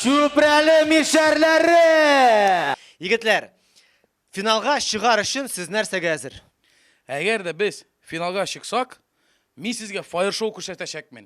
Чүпрәле мишәрләре! Егетләр, финалга чыгар өчен сез нәрсәгә әзер? Әгәр дә без финалга чыксак, мин сезгә фаер-шоу күрсәтәчәкмен.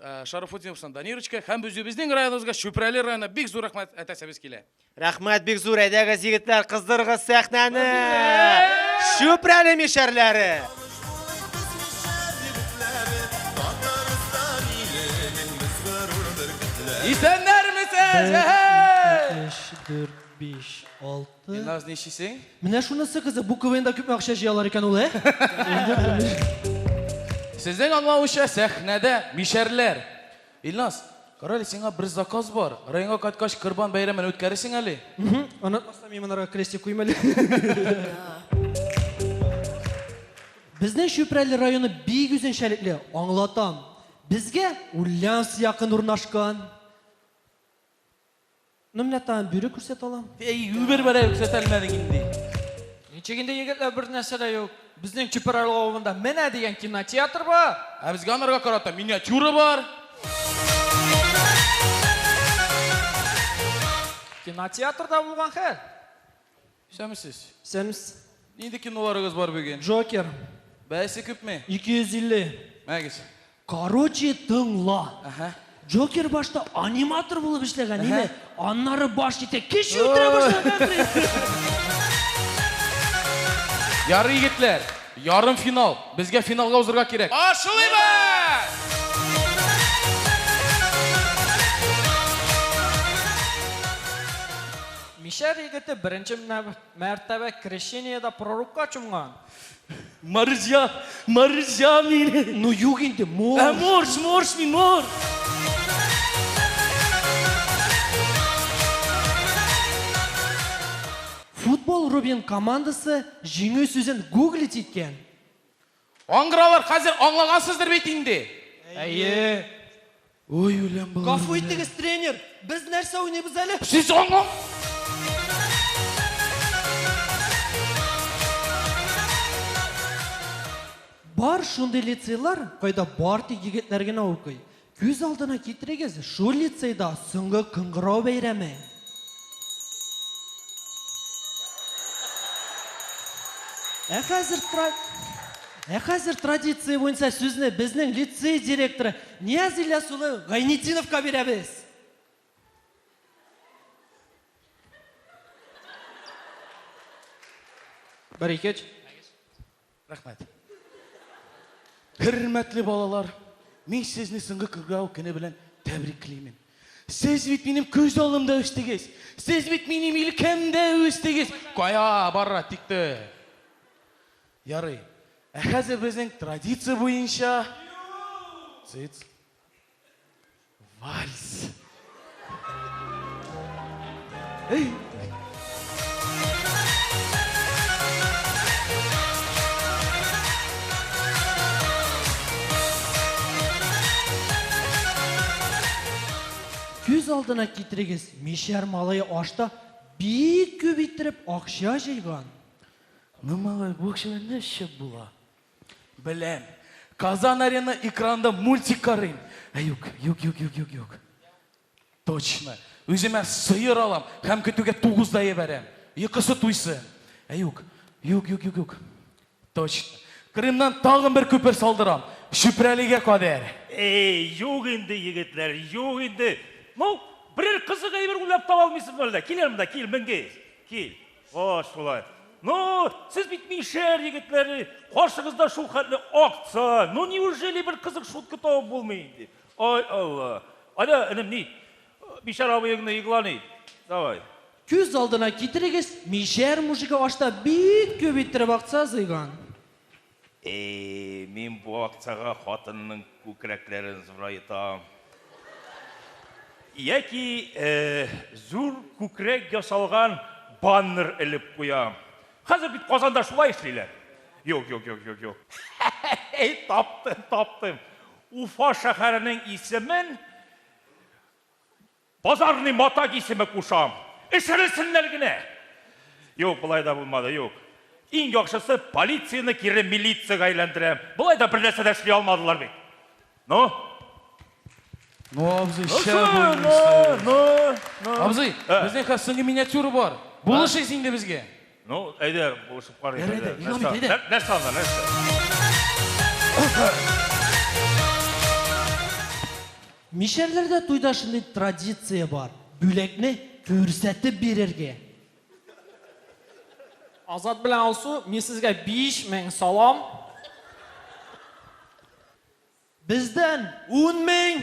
Э, Шарафутдиновсына Данирочка һәм үзебезнең районыбызга Чүпрәле районына бик зур рәхмәт әтәсебез килә. Рәхмәт бик зур, әйдәгез егетләр, кыздырыгыз сәхнәне! Чүпрәле мишәрләре! Исәннәрмесез! Әһә! 4, 5, 6 Илназ, ничисең? Менә шунысы кызык, бу КВНда күпме акча җыялар икән ул, ә? Сезнең аңлавыша сәхнәдә мишәрләр. Илназ, карале, сиңа бер заказ бар. Районга кайткач Корбан бәйрәмен үткәресең әле. Онытмасам, мин монарга крестик куйм әле. Безнең Чүпрәле районы бик үзенчәлекле, аңлатам. Безгә Ульяновск якын урнашкан. Ну, менә тагын бюры күрсәтә алам. Әй, үбер бәрә күрсәтә алмадың инде. Ничек инде егетләр бер нәрсә дә юк. Безнең Чүпрәле авылында менә дигән кинотеатр бар. Ә безгә анарга карата миниатюра бар. Кинотеатрда булган хәл. Исәнмесез. Исәнмес. Нинди киноларыгыз бар бүген? Джокер. Бәясе күпме? 250. Мәгез. Короче, тыңла. Әһә. Джокер башта аниматор булып эшләгән, име? Аннары баш җитә, кеше үтерә башлаган. Ярый, егетләр, ярым финал. Безгә финалга узырга кирәк. Башлыйбыз! Мишәр егете беренче мәртәбә крещениедә пророкка чумган. Марҗа, марҗа мин. Ну юк инде, морж. Ә морж, морж мин, морж. Футбол Рубин командасы җиңү сүзен гуглить иткән. Аңгыралар, хәзер аңлагансыздыр бит инде? Әйе. Ой, үләм балалар. Гафу итегез, тренер, без нәрсә уйныйбыз әле? Сез аңла... Бар шундый лицейлар, кайда бар тик егетләр генә укый. Күз алдына китерегез, шул лицейда соңгы кыңгырау бәйрәме. Ә хәзер Ә хәзер традиция буенча сүзне безнең лицей директоры Нияз Ильяс улы Гайнетдиновка бирәбез. Бер икеч. Рәхмәт. Хөрмәтле балалар, мин сезне соңгы күргәү көне белән тәбриклимен. Сез бит минем күз алдымда үстегез. Сез бит минем илкәмдә үстегез. Кая бара тикте? Ярый. Ә хәзер безнең традиция буенча Сыц. Вальс. Эй! Күз алдына китерегез, мишәр малае ашта бик күп иттереп акча җыйган. Ның малае бу акчалар нәрсә була? Беләм. Казан Арена экранында мультик карыйм. Ә юк, юк, юк, юк, юк, юк. Точно. Үземә сыер алам һәм көтүгә тугыз да ебәрәм. Йокысы туйсын. Ә юк, юк, юк, юк, юк. Точно. Крымнан тагын бер күпер салдырам. Чүпрәлегә кадәр. Эй, юк инде, егетләр, юк инде. Ну, берәр кызык әйбер уйлап таба алмыйсызмы әллә? Кил әле монда, кил, Менгеев, кил. Кош шулай. Ну, сез бит мишәр егетләре, каршыгызда шул хәтле акция. Ну, неужели бер кызык шутка табып булмый инде? Ай Алла. Аня, энем, ни? Мишәр абыеңны игълан ит. Давай. Күз алдына китерегез, мишәр мужигы ашта бик күп иттереп акция җыйган. Әй, мин бу акцияга хатынның күкрәкләрен зурайтам. Яки зур күкрәк ясалган баннер элеп куям. Хәзер бит Казанда шулай эшлиләр. Юк, юк, юк, юк, юк. Әй, таптым, таптым. Уфа шәһәренең исемен Базарный матак исеме кушам. Эчерелсеннәр генә! Юк, болай да булмады, юк. Иң яхшысы, полицияне кире милицияга әйләндерәм. Болай да бер нәрсә дә эшли алмадылар бит. Ну? Ну, абзый, Ну, шәп шу, ну, уйныйсыз. ну, ну. Абзый, Ә. безнең хәзер соңгы миниатюра бар. Булышыйсы инде безгә. Ну, әйдә, булышып карыйк. Ярый әле, ник алмыйк, әйдә. Нәрсә анда, нәрсә? Мишәрләрдә туйда шундый традиция бар. Бүләкне күрсәтеп бирергә. Азат белән Алсу, мин сезгә 5000 салам. Бездән 10000.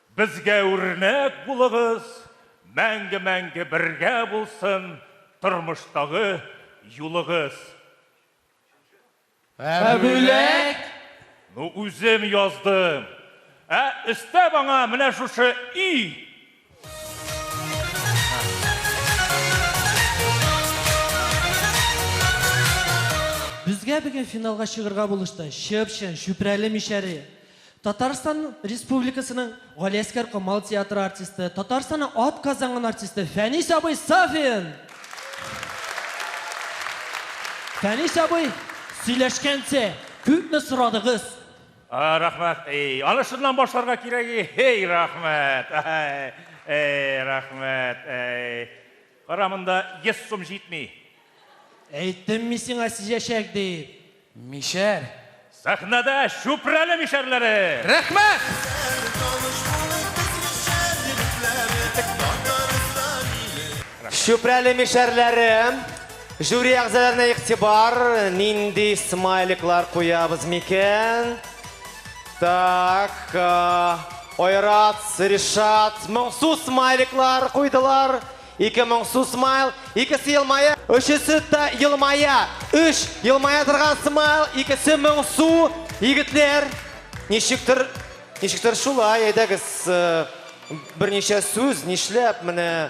Безгә үрнәк булыгыз, мәңге-мәңге бергә булсын тормыштагы юлыгыз. Ә бүләк? Ну үзем яздым. Ә өстәп аңа менә шушы и. Безгә бүген финалга чыгырга булышты Чып-чын, Чүпрәле мишәре. Татарстан Республикасының Галиәскәр Камал театры артисты, Татарстанның ат казанган артисты Фәнис абый Сафин! Фәнис абый, сөйләшкәнче, күпме сорадыгыз? А, рәхмәт. Эй, аны шуннан башларга кирәк. Эй, рәхмәт. Эй, рәхмәт. Эй. Кара, монда йөз сум җитми. Әйттем мин сиңа сизәчәк дип. Мишәр. Сәхнәдә Чүпрәле мишәрләре! Рәхмәт! Чүпрәле мишәрләре, жюри әгъзаларына игътибар, нинди смайликлар куябыз микән? Так, Айрат, Ришат, моңсу смайликлар куйдылар. Ике моңсу смайл, икесе елмая. Өчесе дә елмая. Өч елмая торган смайл, икесе моңсу. Егетләр, ничектер, ничектер шулай, әйдәгез, э, берничә сүз, нишләп, менә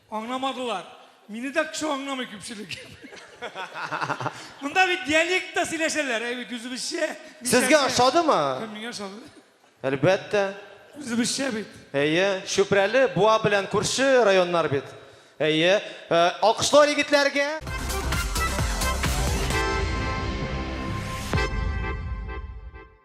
Аңламадылар. Мине дә кеше аңламый күпчелек. Монда бит диалектта сөйләшәләр, әй бит үзебезчә. Сезгә ошадымы? Миңа ошады. Әлбәттә. Үзебезчә бит. Әйе, Чүпрәле, Буа белән күрше районнар бит. Әйе. Э, алкышлар егетләргә.